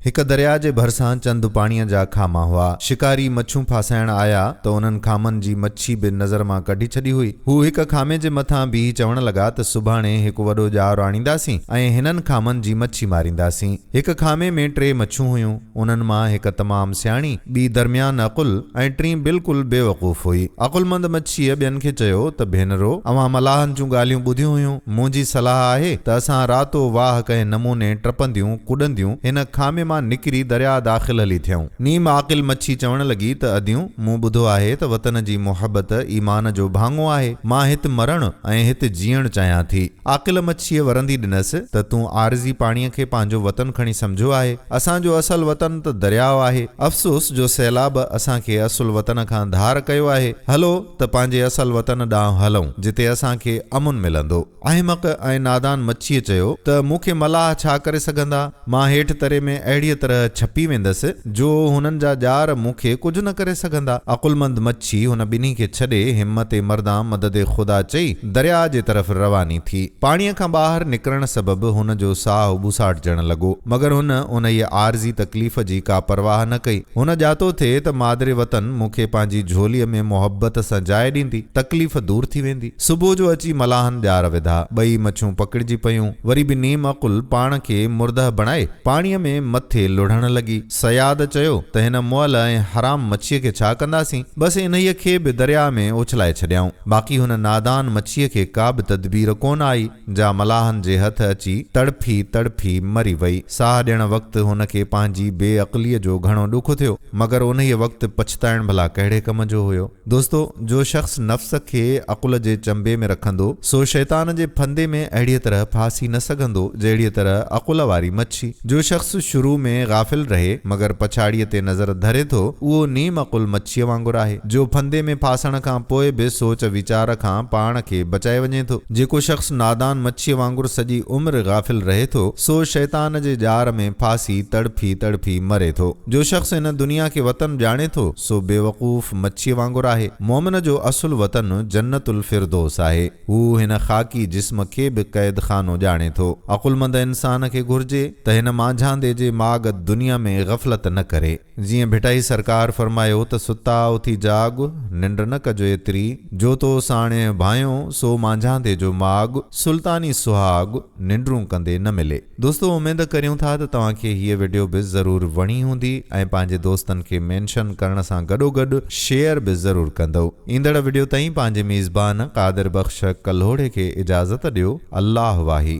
هڪ درياء جي ڀرسان چند پاڻيء جا خاما هئا. شڪاري مڇون ڦاسائڻ آيا ته انهن خامن جي مڇي به نظر مان ڪڍي ڇڏي هئي. هو هڪ خامي جي مٿان بيهي چوڻ لڳا ته سڀاڻي هڪ وڏو ڄار آڻينداسين ۽ هنن خامن جي مڇي مارينداسين. هڪ خامي ۾ ٽي مڇون هيون. انهن مان هڪ تمام سياڻي، ٻي درميان عقل، ۽ ٽين بلڪل بيوقوف هئي. عقلمند مڇيء ٻين کي چيو ته ڀينرو، اوهان ملاحن جون ڳالهيون ٻڌيون هيون. منهنجي صلاح آهي ته اسان راتو واهه ڪنهن نموني ٽپنديون ڪڏنديون هن خامي مان نڪري درياء داخل هلي ٿيئون. نيم عاقل مڇي چوڻ لڳي ته اديون، مون ٻڌو آهي ته وطن جي محبت ايمان جو ڀاڱو آهي. مان هت مرڻ ۽ هت جيئڻ چاهيان ٿي. عاقل مڇيء ورندي ڏنس ته تون عارضي پاڻيء کي پنهنجو وطن کڻي سمجهيو آهي. اسان جو اصل وطن ته درياء آهي. افسوس جو سيلاب اسان کي اصل وطن کان ڌار ڪيو آهي. هلو ته پنهنجي اصل وطن ڏانهن هلون، جتي اسان کي امن ملندو. احمق ۽ نادان مڇيء چيو ته مون کي ملاح ڇا ڪري سگهندا؟ مان هيٺ تري ۾ اهڙيء طرح ڇپي ويندس، جو هنن جا ڄار مون کي ڪجهه نه ڪري سگهندا. عقلمند مڇي هن ٻنهي کي ڇڏي، همت مردان مدد خدا چئي، درياء جي طرف رواني ٿي. پاڻيء کان ٻاهر نڪرڻ سبب هن جو ساهه ٻوساٽجڻ لڳو، مگر هن انهيء عارضي تڪليف جي ڪا پرواهه نه ڪئي. هن ڄاتو ٿي ته مادري وطن مون کي پنهنجي جهوليء ۾ محبت سان جاء ڏيندي، تڪليف دور ٿي ويندي. صبح جو اچي ملاحن ڄار وڌا. ٻئي مڇون پڪڙجي پيون. وري به نيم عقل پاڻ کي مردهه بڻائي پاڻيء ۾ مٿي لڙهڻ لڳي. صياد چيو ته هن مئل ۽ حرام مڇيء کي ڇا ڪنداسين؟ بس انهيء کي به درياء ۾ اڇلائي ڇڏيائون. باقي هن نادان مڇيء کي ڪا به تدبير ڪونه آئي. جا ملاحن جي هٿ اچي تڙڦي تڙڦي مري وئي. ساهه ڏيڻ وقت هن کي پنهنجي بي عقليء جو گهڻو ڏک ٿيو، مگر انهيء وقت پڇتائڻ ڀلا ڪهڙي ڪم جو هيو؟ دوستو! جو شخص نفس کي عقل جي چنبي ۾ رکندو، سو شيطان جي ڦندي ۾ اهڙيء طرح ڦاسي نه سگهندو، جهڙيء طرح عقل واري مڇي. جو شخص شروع ۾ غافل رهي، مگر پڇاڙيء تي نظر ڌري ٿو، اهو نيم عقل مڇيء وانگر آهي، جو ڦندي ۾ ڦاسڻ کان پوء به سوچ ويچار کان پاڻ کي بچائي وڃي ٿو. جيڪو شخص نادان مڇيء وانگر سڄي عمر غافل رهي ٿو، سو شيطان جي ڄار ۾ ڦاسي تڙڦي تڙڦي مري ٿو. جو شخص هن دنيا کي وطن ڄاڻي ٿو، سو بيوقوف مڇيء وانگر آهي. مؤمن جو اصل وطن جنت الفردوس آهي. هو هن خاڪي جسم کي به قيد خانو ڄاڻي ٿو. عقلمند انسان کي گهرجي ته هن مانجهاندي جي ماڳ دنيا ۾ غفلت نه ڪري. جيئن ڀٽائي سرڪار فرمايو ته ستا اٿي جاڳ، ننڊ نه ڪجو ايتري، جو تو ساڻيهه ڀانئيو، سو مانجهاندي جو ماڳ، سلطاني سهاڳ، ننڊون ڪندي نه ملي. دوستو اميد ڪريون ٿا ته توهان کي هيء وڊيو به ضرور وڻي هوندي ۽ پنهنجي دوستن کي مينشن ڪرڻ سان گڏوگڏ شيئر به ضرور ڪندؤ. ايندڙ وڊيو تائين پنهنجي ميزبان قادر بخش ڪلهوڙي کي اجازت ڏيو. الله واهي.